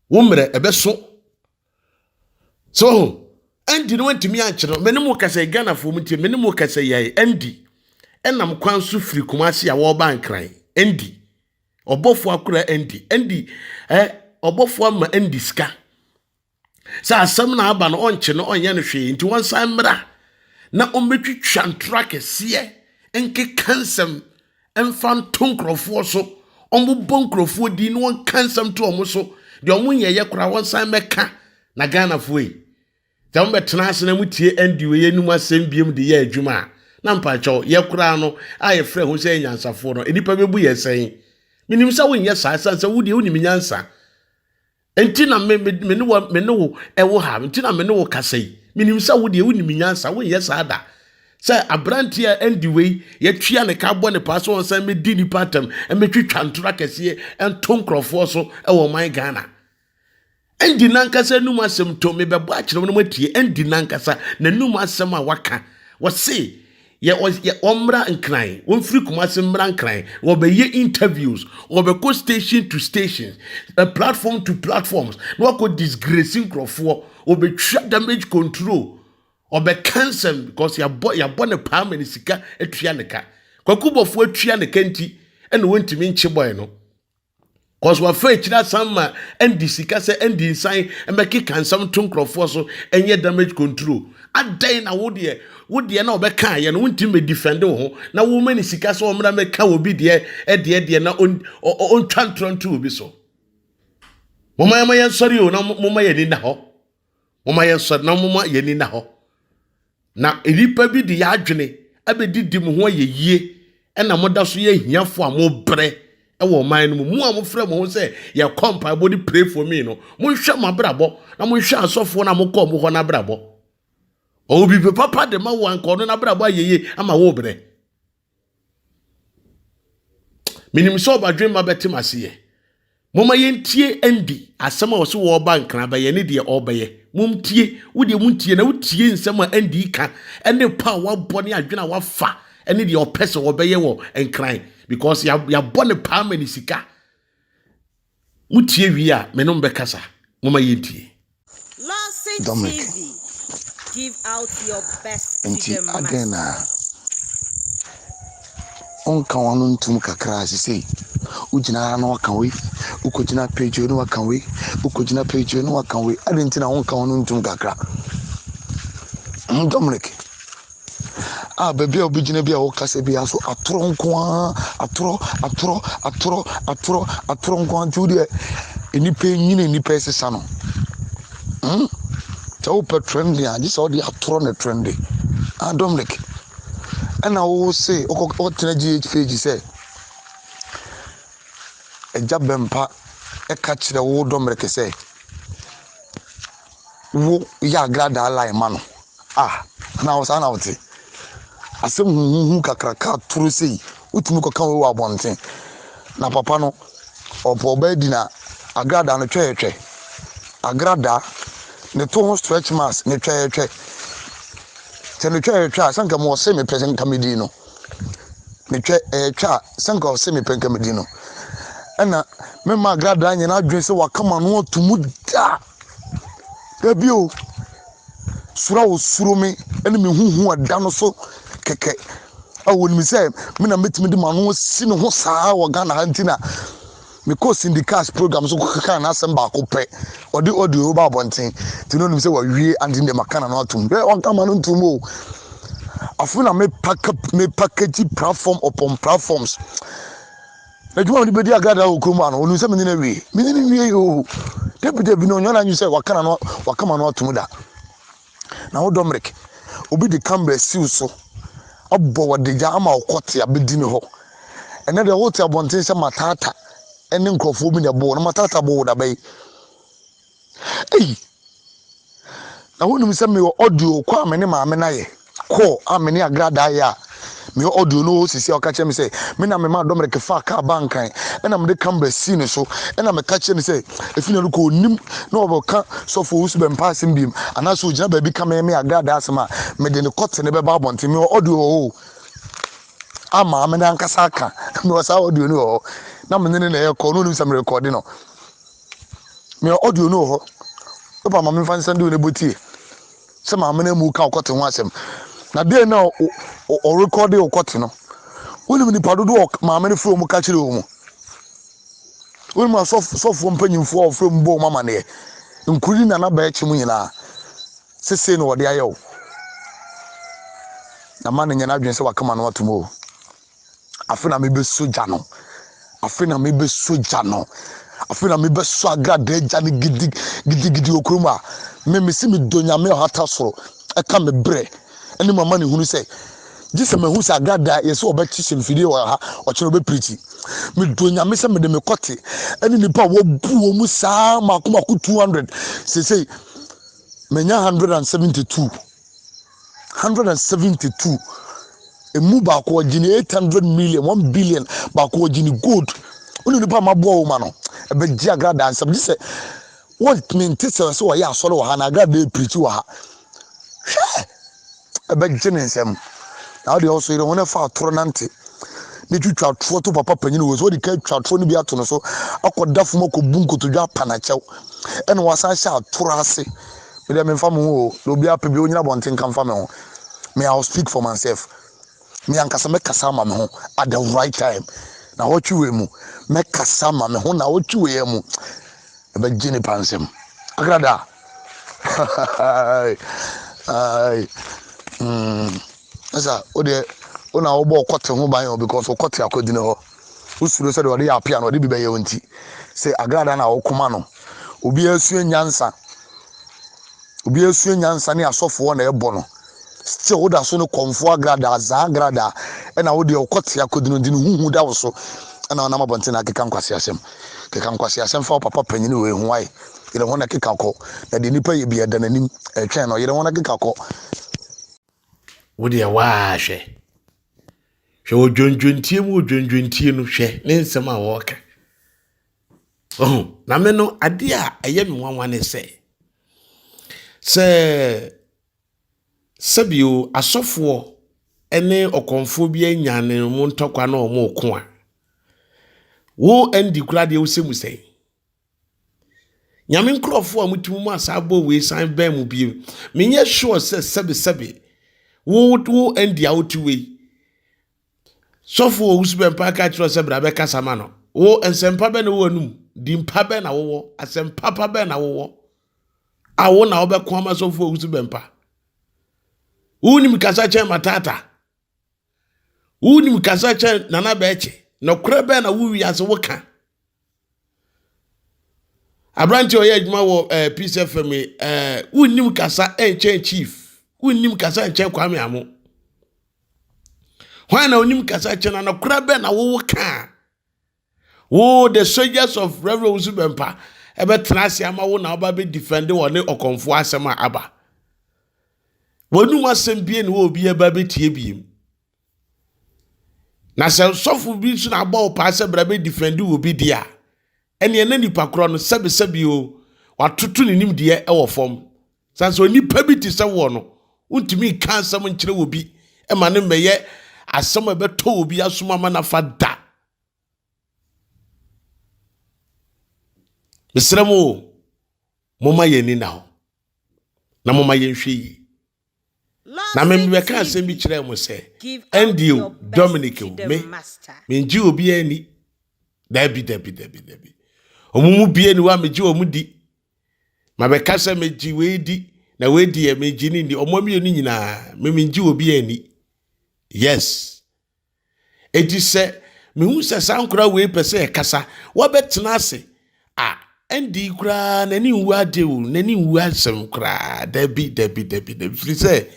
wo mmerɛ ɛbɛso so ho ɛnti no wɔntumi ankyerɛ me ne mo kasa ghanafoɔ mu nti me ne mo kasa yɛe ɛndi ɛnam kwan so firi kumase a wɔreba nkran ɛndi ɔbɔfoɔ akora ɛndi ɛndi ɛ ɔbɔfoɔ ama ɛndi sika sɛ asɛm na aba no ɔnkye no ɔnyɛ no hwee nti wɔnsan mmra na ɔmmɛtwitwa ntorɔ akɛseɛ nkeka nsɛm mfa nto nkurɔfoɔ so ɔmbobɔ nkurɔfoɔ din na ɔnka nsɛm to ɔmo so deɛ ɔmo nyɛyɛ koraa wɔnsan mmɛka na ghanafoɔ yi sɛ mobɛtena ase na motie ɛndi wei anim asɛm biom de yɛ adwuma a na mpakyɛw yɛ koraa no a yɛfrɛ ho sɛ yɛ nyansafoɔ no nnipa bɛbu yɛ sɛn menim sɛ wonyɛ saa ɛsiane sɛ wodeɛ wonim nyansa Enti na me me me ne wo me ne wo ɛwɔ ha. Enti na me ne wo kasa yi. Menim sɛ wo deɛ wonim nyansa, wonyɛ saa da. Sɛ aberanteɛ a ɛndi wei, yɛtua ne ka abɔ ne paa sɛ ɔnsan mmɛdi nnipa atam, mmɛtwitwa ntoro akɛseɛ nto nkurɔfoɔ so wɔ ɔman Ghana. Ɛndi nankasa anum asɛm to, mebɛbɔ akyerɛ wo na moatie, ɛndi nankasa n'anum asɛm a waka. Wɔse yɛ yɛ wɔmmra nkran wɔmfiri kumase mmra nkran wɔbɛyɛ interviews wɔbɛkɔ station to station uh, platform to platforms na wakɔ disgrace nkurɔfoɔ wɔbɛtwa damage control ɔbɛka nsɛm because yɛabɔ yɛabɔ ne paa ma ne sika atua ne ka kwakubɔfoɔ atua ne ka nti ɛna wɔntumi nkye bɔe no Cause wafa akyiri asan ma ɛndi sika sɛ ɛndi nsan ɛbɛkeka nsɛm to nkurɔfoɔ so ɛnyɛ damage control adɛn na wo deɛ wo deɛ na ɔbɛka ayɛ no wontumi bɛ defend wo ho na woma ne sika sɛ ɔmmra mɛka obi deɛ ɛdeɛ deɛ na ɔntwa ntorɔ nto obi so moma yɛma yɛn sɔre o na moma yɛn ani na hɔ Momma yɛnsɔre na momma yɛn ani nna hɔ. Na nnipa bi de yɛn adwene abɛdidi mo ho ayɛ yie ɛna moda so yɛ ahiafoɔ a mobrɛ wɔ ɔman no mu. Mo a mofrɛ mo ho sɛ yɛkɔ mpaebɔ de pray for me no, monhwɛ mo abrabɔ na monhwɛ asɔfoɔ no a mokɔɔ mo hɔ no abrabɔ. Ɔwɔ biribi papa de ma wo anka ɔno n'abrabɔ ayɛ yie ama wobrɛ. menim sɛ ɔbadwemma bɛte m'aseyɛ moma yɛntie ɛndi asɛm a ɔse wɔreba nkra bɛyɛ ne deɛ ɔrebɛyɛ momtie wodeɛ montie na wotie nsɛm a ɛndi ka ɛne pa a wabɔ ne adwene a wafa ɛne deɛ ɔpɛ sɛ wɔbɛyɛ wɔ nkran because yɛabɔ ne paa ma ne sika Motie wie a, me ne mo bɛkasa. Momma yɛntie. Dominic, Enti adɛn na wonka w'ano ntom kakra a sesei wogyina ha na woaka wei, wokɔgyina page na woaka wei, wokɔgyina page na woaka wei, adɛn nti na wonka w'ano ntom kakra? Hmm, Dominic. Ah, baabi a wobɛgyina bi a wokasa bi aso atorɔ nko ara, atorɔ, atorɔ, atorɔ, atorɔ, atorɔ nko ara nti wo deɛ nnipa nyini nnipa ɛsesa no. Hmm? sɛ wopɛ trend a gye sɛ wode atorɔ ne trend ah dominic ɛna wo se wotena gh page sɛ agya bɛmpa ɛka kyerɛ wo dominic sɛ wo yɛ agradaa line ma no Ah, na wo saa na wote? Asɛm huhuhu kakraka atoro sei, wotumi kɔka wei wɔ abɔnten. Na papa no, ɔpɔ ɔbaa di na agradaa no twɛyɛtwɛ. Agradaa, ne to ho stretch marks, ne twɛyɛtwɛ. Sɛ ne twɛyɛtwɛ a, sɛ nka mo ɔse mepɛ sɛ nka medi no. Ne twɛyɛtwɛ a, sɛ nka ɔse mepɛ nka medi no. Ɛna mema agradaa nyɛ n'adwene sɛ wakama no ato mu daa. Dabi o, suro a wɔsuro me ne me ho hu a ɛda no so kɛkɛ a wɔnim sɛ me na mɛtumi de m'ano asi ne ho saa wɔ Ghana ha nti na mekɔɔ Cindy Cash program so kɔkaa n'asɛm baako pɛ ɔde audio ba abɔnten nti na ɔnim sɛ wawie ante deɛ maka na no atom ɛ ɔnka ma no ntom o afei na mepakagyi platform upon platforms Adwuma a ɔde bedi agradaa wɔ kurom ha no, onim sɛ menye no awie. Menye no nwiei oo! Dabi, dabi, na onnya n'adwene sɛ waka n'ano, wakam ano atom da. Na wo Domric, obi de camera asi wo so, abɔ wo adagya ama wokɔte abedi me hɔ. Ɛnnɛ deɛ wote abɔnten sɛ Matata ne nkurɔfoɔ bi na ɛbɔ wo, na Matata bɔ wo da bɛn? Ei! Na wonim sɛ mewɔ audio kɔ a me ne maame no ayɛ kɔɔ a me ne agradaa yɛ a mewɔ audio no wɔ hɔ sisi a ɔka kyerɛ me sɛ me na memaa Dominic faa kaa baa Nkran ɛna mede camera sii ne so ɛna meka kyerɛ no sɛ efi na no kɔ onim na ɔbɛka sɔfo Owusu Bɛmpa asɛm biom anaasɛ ogyina baabi ka me me agradaa asɛm a mede ne kɔte ne bɛba abɔnten mewɔ audio wɔ hɔ o a maame no ankasa aka mewɔ saa audio no wɔ hɔ na me ne no na ɛrekɔ no onim sɛ merekɔde no Mea audio no wɔ hɔ. Papa ma memfa nsɛm de wo na bɔ tie. Sɛ maame no amu ka ɔkɔte ho asɛm. Na dɛn na ɔrekɔde ɔkɔte no? Wonim nipa dodo a maame no frɛ wɔn ka kyerɛ wɔn? Wonim asɔfoɔ mpanyinfoɔ a ɔfrɛ mu bɔ wɔn amaneɛ? Nkuri na naba akyi mu nyinaa. Sesei na wɔde ayɛ o. Na ma no nyɛ n'adwene sɛ wakama no atom o. afe na mebɛsɔ gya no afe na mebɛsɔ gya no afe na mebɛsɔ agradaa gya no gidigidigidi wɔ kurom a memesi medɔ nyame ɔhata soro ɛka me berɛ ɛne mama ne hunu sɛ gye sɛ mahu sɛ agradaa yɛ sɛ ɔbɛkye hyɛ mfidie wɔ ha ɔkyerɛ ɔbɛpirikyi medɔ nyame sɛ mede mekɔte ɛne nnipa a wɔbu wɔ mu saa maako maako 200 sesei manya 172 hundred and seventy two emu baako ɔgye ne eight hundred million one billion baako ɔgye ne gold ɔne nipa ma boa wɔn ma no ɛbɛgye agradaa nsɛm gye sɛ wɔn mente sɛ sɛ wɔyɛ asɔre wɔ ha na agradaa epirikyi wɔ ha hwɛ ɛbɛgye ne nsɛm na ɔde ɔso yɛ wɔn ɛfa atoro nante ne twitwa atoro to papa panyin wɔ so ɔde ka twitwa atoro no bi ato no so akɔda fam akɔbu nkotodwe apanakyɛw ɛna wasan hyɛ atoro ase Me deɛ memfa me ho o, na obi apɛ bi ɔnyina abɔnten nka mfa me ho. Me I will speak for myself. Me ankasa mɛkasa ama me ho at the right time. Na wɔtwe wei mu, mɛkasa ama me ho na wɔtwe wei mu. Ɛbɛgye nipa nsɛm. Agrada. Ai. Mm. Ɛsa, wo deɛ, wo na wobɔ ɔkɔte ho ban o because ɔkɔte akɔgyina hɔ. Wosuro sɛ deɛ ɔde yɛ apea na ɔde bi bɛyɛ wo nti, sɛ agradaa na wɔkoma no. Obiara sua nyansa. Obiara sua nyansa ne asɔfoɔ na ɛbɔ no. Still woda so no kɔmfoɔ agradaa, zaa agradaa, ɛna wo deɛ wokɔte akɔdinodini, huhu da wo so, ɛna wonam abɔnten na akeka nkwaseasɛm. Keka nkwaseasɛm fa wo papa panyini wei ho ae. Yere ho na ɛkeka kɔ, na deɛ nipa yɛ bi ɛda n'anim ɛtwɛn no, yere ho na ɛkeka kɔ. Wo deɛ waa hwɛ. Hwɛ odwondwontie mu odwondwontie no, hwɛ ne nsɛm a wɔreka. Ɔho, na me no, adeɛ a ɛyɛ me nwanwa ne sɛ, sɛ sɛbio asɔfoɔ ne ɔkɔmfoɔ bi anya ne mu ntɔkwa na wɔn reko a, wo ɛndi kura deɛ wosɛ mu sɛn? Nyame nkurɔfoɔ a motumi mu asaa bɔ wei san bɛn mu bio. Menyɛ sure sɛ sɛbesɛbe wo wo ɛndi a wote wei. Sɔfo wɔ wusu bɛmpa aka kyerɛ sɛ bra bɛkasa ma no. Wo nsɛmpa bɛn na wowɔ anum? Dimpa bɛn na wowɔ? Asɛmpa pa bɛn na wowɔ? A wo na wobɛko ama sɔfo wɔ wusu bɛmpa. Wonim kasa kyɛn matata. Wonim kasa kyɛn nana bɛɛkye. Nɔkorɛ bɛn na wo wiase woka. aberante a ɔyɛ adwuma wɔ ɛɛ eh, peace fm yi ɛɛ eh, wonnim kasa nkyɛn chief wonnim kasa nkyɛn kwame amo hwan na onim kasa kyɛn na nokora bɛn na wowo kaa wo the soldiers of reverend wusu bɛmpa ɛbɛtena ase ama wo na ɔba bɛ defend wɔ ne ɔkɔmfoɔ asɛm a aba wɔnum asɛm bie ne wɔ obi ɛba bɛtie biem Na sɛ sɔfo bi nso na abɔ wo paa sɛ bra bɛ defend wɔ bi di a, ɛneɛ na nipa korɔ no sɛbesɛbe o, watoto ne nimdeɛ wɔ fam. San sɛ onipa bi te sɛ woɔ no, wontumi nka asɛm nkyerɛ wɔ bi ma no mmɛyɛ asɛm a ɛbɛtɔ wɔ bi asom ama no afa da. Mesrɛ mo o, momma yɛn ani na hɔ na momma yɛnhwɛ yie. Na me mebɛka asɛm bi kyerɛɛ mo sɛ, ɛndeɛ o, Dominic o, me, mengye obiara ni. Dabi, dabi, dabi, dabi. Ɔmo mu bie ni hɔ a megye ɔmo di. Mabɛka sɛ megye wei di, na wei deɛ megye ne ni. Ɔmo mmienu nyinaa, me mengye obiara ni. Yes, Enti sɛ mehu sɛ saa nkora wei pɛ sɛ ɛkasa, wɔbɛtena ase a, ɛnde koraa n'ani nwu ade o, n'ani nwu asɛm koraa. Dabi, dabi, dabi, dabi. Firi sɛ,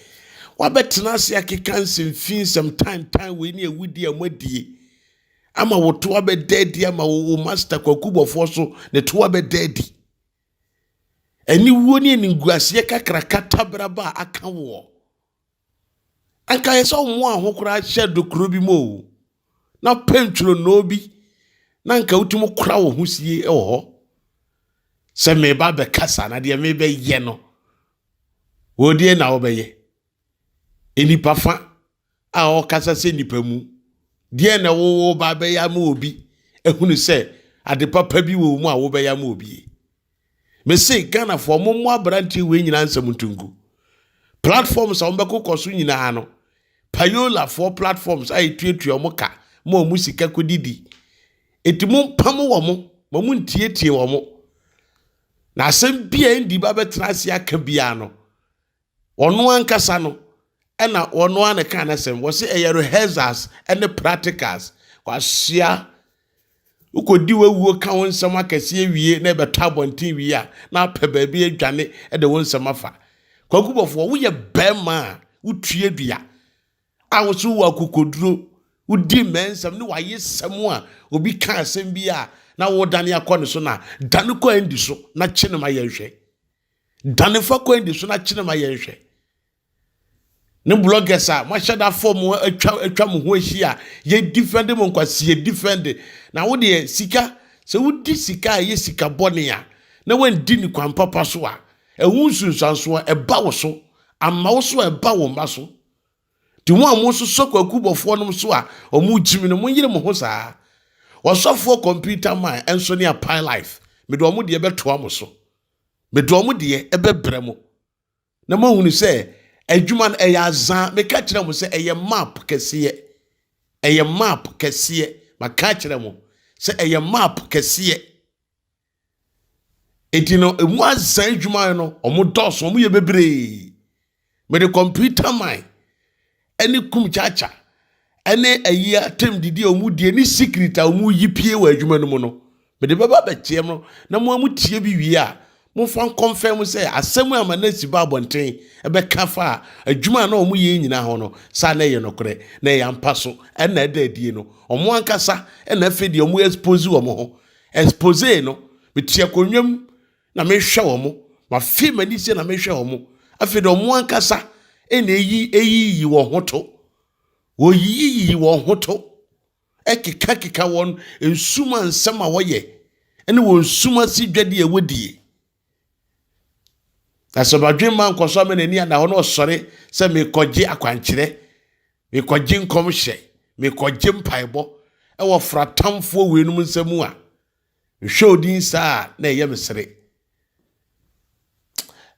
wɔabɛtena ase akeka nsɛm fi nsɛm tantan wei ne awudie a moadie ama wo to abɛda adi ama wo wo master kwakubɔfoɔ so ne to abɛda adi. Aniwuo ne animguaseɛ kakraka taberaba a aka woɔ. Anka ayɛ sɛ ɔmmoaa ho koraa hyɛɛ dokuro bi mu o, na wopɛ ntwonoo bi na anka wotumi kora wo ho sie wɔ hɔ sɛ meba bɛkasa na deɛ mebɛyɛ no wɔdeɛ na wobɛyɛ nnipa fa a ɔkasa sɛ nnipa mu deɛ na wowɔ ba bɛyɛ ama obi ehunu sɛ ade papa bi wɔ mu a wobɛyɛ ama obi mese ghanafoɔ mo mo aberanteɛ wei nyinaa nsɛm nto ngu platforms a wɔbɛkokɔ so nyinaa no payolafoɔ platforms a ɛtuatua wɔn ka ma wɔn sika kɔdidi ɛti mo mpam wɔ mo ma mo ntietie wɔ mo na asɛm bi a ɛndi ba bɛtena ase aka biara no Ɔno ankasa no na ɔno ara na ɛkaa n'asɛm. Wɔsi ɛyɛ rehearsals ne practicals. Wasoa. Wokɔdi w'awuo ka wo nsɛm akɛseɛ wie na ɛbɛtɔ abɔnten wie a, na apɛ baabi adwane de wo nsɛm afa. Kwaku Bɔfoɔ, woyɛ bɛrima a wotue dua a wo so wɔ akokoduro, wodi mmɛ nsɛm ne w'ayesɛm a obi ka asɛm bi a na wodane akɔ ne so na dane kɔ Andy so na kye no ma yɛnhwɛ. Dane fa kwan di so na kyerɛ ma yɛnhwɛ. Ne bloggers a moahyɛ da fɔ mo atwa atwa mo ho ahyia yɛ defend mo nkwa si yɛ defend na wo deɛ sika sɛ wodi sika a ɛyɛ sika bɔne a na wandi ne kwan papa so a ɛho nsunsuanso a ɛba wo so ama wo so a ɛba wo mma so ti ho a mo nso sɔ kwaku bɔfoɔ nom so a ɔmo gyimi no mo nyere mo ho saa wɔsɔfoɔ computer man ɛnso ne a pie life mede ɔmo deɛ bɛtoa mo so Mede wɔn deɛ bɛbrɛ mo, na moahunu sɛ adwuma no ɛyɛ azaa. Meka kyerɛ mo sɛ ɛyɛ map kɛseɛ. Ɛyɛ map kɛseɛ. Maka akyerɛ mo sɛ ɛyɛ map kɛseɛ. Enti no, ɛmu azaa adwuma no, wɔn dɔɔso, wɔn yɛ bebree. Mede kɔmputa man ne kum kyakya ne ayi atam didi a wɔn die ne secret a wɔn yi pie wɔ adwuma no mu no mede bɛba bɛteɛ mo na mo a mo tie bi wie a momfa nkɔmfɛn mo sɛ asɛm a Manasi ba abɔnten bɛka fa a adwuma a na wɔn yɛ nyinaa ho no saa na ɛyɛ nokorɛ na ɛyɛ ampa so ɛna ɛda adie no wɔn ankasa ɛna afei deɛ wɔn expose wɔn ho expose no metua konwam Na mehwɛ wɔn, mafe m'ani sie na mehwɛ wɔn. Afei de wɔn ankasa na eyi eyiyi wɔn ho to. Wɔyiyiyi wɔn ho to, ɛkekakeka wɔn nsuma nsɛm a wɔyɛ, ne wɔn nsuma si dwadi a wɔdie. Na sɛ badwemma nkɔso ama n'ani ada hɔ na ɔsɔre sɛ mekɔgye akwankyerɛ, mekɔgye nkɔmhyɛ, mekɔgye mpaebɔ ɛwɔ fratamfoɔ weinom nsam a, Mehwɛ odin saa a na ɛyɛ me sere.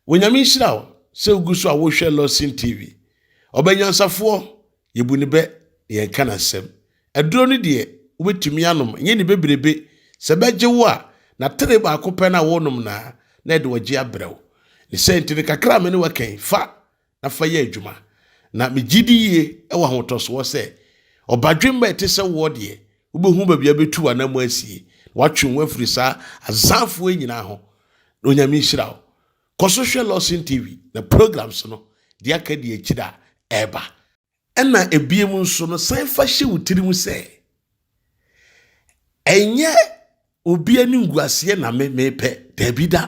Onyame nhyira wo sɛ wogu so a wohwɛ Lawson TV. Ɔbɛ nyansafoɔ, yɛbu ne bɛ na yɛnka n'asɛm. Aduro no deɛ wobɛtumi anom, ɛnyɛ ne bebrebe. Sɛ bɛgye wo a, na tere baako pɛ na wonom na na ɛde wɔgye abrɛ wo. Ne sɛ nti no kakra a me ne wɔ kɛn, fa. na fa yɛ adwuma. Na megye di yie wɔ ahotɔsoɔ sɛ, ɔbadwemma a ɛte sɛ woɔ deɛ, wobɛhu baabi a wobɛtu w'anam asie, na watwe wo ho afiri saa azanfoɔ yi nyinaa ho. Na Onyame nhyira wo. Kɔ so hwɛ Lawson TV na programs no, deɛ aka di akyire a ɛreba. Ɛnna ebiem nso no, san fa hyɛ wo tirim sɛ, ɛnyɛ obi animguaseɛ na me mepɛ, daabi da.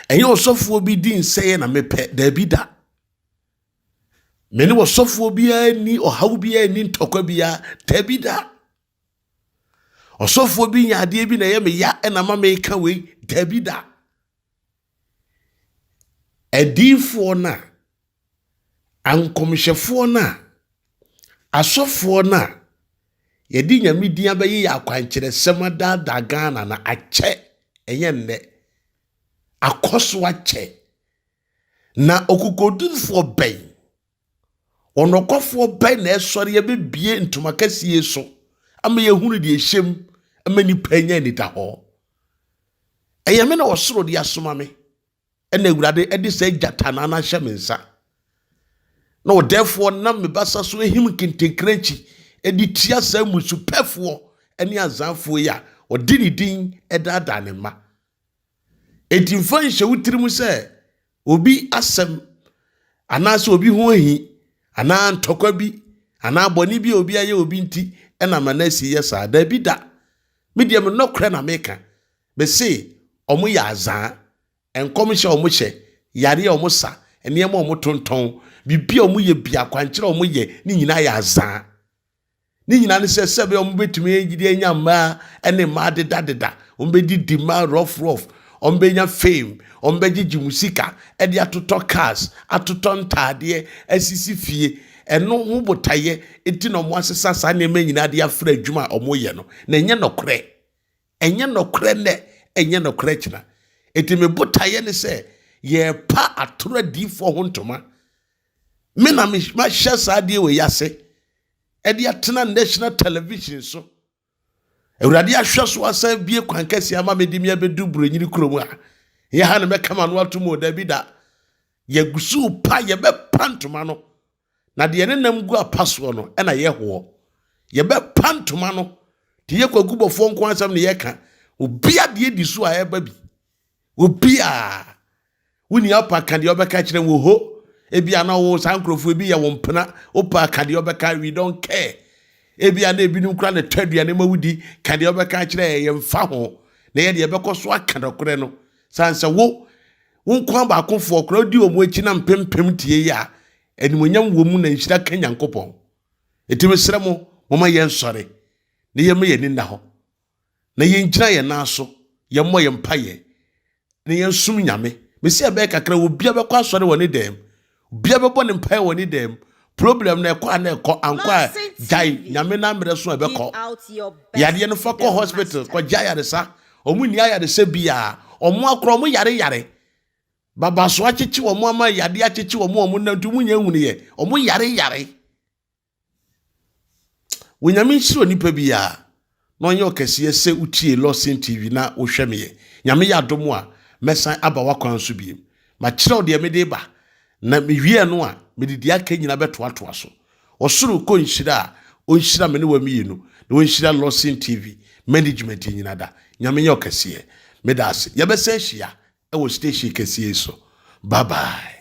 Ɛnyɛ ɔsɔfoɔ bi di nsɛeɛ na mepɛ, daabi da. Me ne ɔsɔfoɔ biara ni ɔhaw biara ni ntɔkwa biara, daabi da. Ɔsɔfoɔ bi nya adeɛ bi na ɛyɛ me ya ɛna ma meka wei, daabi da. Adiifoɔ no a A Nkɔmhyɛfoɔ no a asɔfoɔ no a yɛde Nyame din abɛyeyɛ akwankyerɛsɛm adaadaa Ghana no akyɛ ɛnyɛ nnɛ akɔ so akyɛ na ɔkokodurfoɔ bɛn ɔnɔkwafoɔ bɛn na ɛsɔre abɛbie ntoma kɛseɛ so ama yɛhunu deɛ ɛhyɛm ama nipa anya anidahɔ ɛyɛ me na ɔsoro de asoma me Ɛna Awurade de saa gyatanaa no ahyɛ me nsa, na ɔdɛɛfoɔ nam me basa so ahim nkentenkrankyi de tia saa mmusupɛfoɔ ne azanfoɔ yi a ɔde ne din daadaa ne mma. Enti mfa nhyɛ wo tirim sɛ obi asɛm anaasɛ obi ho ahi anaa ntɔkwa bi anaa bɔne bi a obi ayɛ obi nti ɛna Manase yɛ saa. Daabi da, me deɛ me nɔkorɛ na meka. Mese ɔmo yɛ azaa. Nkɔmhyɛ a ɔmo hyɛ, yare a ɔmo sa, nneɛma a ɔmo tontɔn, biribi a ɔmo yɛ bi, akwankyerɛ a ɔmo yɛ, ne nyinaa yɛ azaa. Ne nyinaa ne sɛ, sɛbea ɔmo betumi de anya mmaa ne mmaa dedadeda, ɔmo bedidi mma rough rough, ɔmo benya fame, ɔmo begyegye mu sika de atotɔ cars, atotɔ ntaadeɛ, asisi fie. Ɛno ho botaeɛ nti na ɔmo asesa saa nneɛma nyinaa de afra adwuma a ɔmo yɛ no, na ɛnyɛ nɔkorɛ. Ɛnyɛ nɔkorɛ nnɛ, ɛnyɛ nɔkorɛ kyena. Enti me botaeɛ ne sɛ yɛrepa atoro adiyifoɔ ho ntoma. Me na mahyɛ saa adeɛ wei ase ɛde atena national television so. Awurade ahwɛ so asan bie kwan kɛseɛ ama me de me abɛdu Buronyini kurom a. Yɛ ha na mɛka m'ano ato mu o, dabi da. Yɛgu so pa, yɛbɛpa ntoma no. na deɛ ne nam gu apa soɔ no na yɛhoɔ. Yɛbɛpa ntoma no de yɛ kwaku bɔfoɔ nko asɛm na yɛka. Obia deɛ di so a ɛba bi. Obia woni apa ka deɛ ɔbɛka kyerɛ wo ho. Ebia na wo saa nkurɔfoɔ ebi yɛ wo mpena. Opa ka deɛ ɔbɛka we don't care. Ebia na ebinom kura ne tɔ aduane ma wodi ka deɛ ɔbɛka kyerɛ yɛn mfa ho. Na yɛ deɛ ɛbɛkɔ so aka dɔkorɛ no. Sansa wo Wo nkoa baakofoɔ koraa wodi wɔn akyi na mpempem tie yɛ a, animuonyam wɔ mu na nhyira ka Nyankopɔn. Enti mesrɛ mo, momma yɛnsɔre na yɛmma yɛn ani nna hɔ, na yɛngyina yɛn nan so, yɛmmɔ yɛn mpaeɛ, na yɛnsom Nyame. Mese ɛbɛyɛ kakra, obiara bɛkɔ asɔre wɔ ne dan mu, Obia bɛbɔ ne mpae wɔ ne dan mu. Problem no ɛkɔ a na ɛkɔ, ankɔ a gyae, Nyame na mmerɛ so a ɛbɛkɔ. Yadeɛ no fa kɔ hospital, kɔ gya yaresa, ɔmo nni ayaresa biaa, ɔmo akora, ɔmo yare yare. Babaso akyekye ɔmo ama yadeɛ akyekye ɔmo a ɔmo nante, ɔmo nya nhunuiɛ, ɔmo yare yare. Onyame nhyira onipa biara na ɔnyɛ ɔkɛseɛ sɛ wotie Lawson TV na wohwɛ meɛ. Nyame yɛ adom a mɛsan aba w'akwan so biem. Makyerɛw deɛ mede ba na mewie no a mede deɛ aka nyinaa bɛtoatoa so. Ɔsoro kɔ nhyira a ɔnhyira me ne wa mmienu na ɔnhyira Lawson TV management nyina da. Nyame yɛ ɔkɛseɛ. Meda ase. Yɛbɛsan hyia wɔ station kɛseɛ yi so. Bye bye.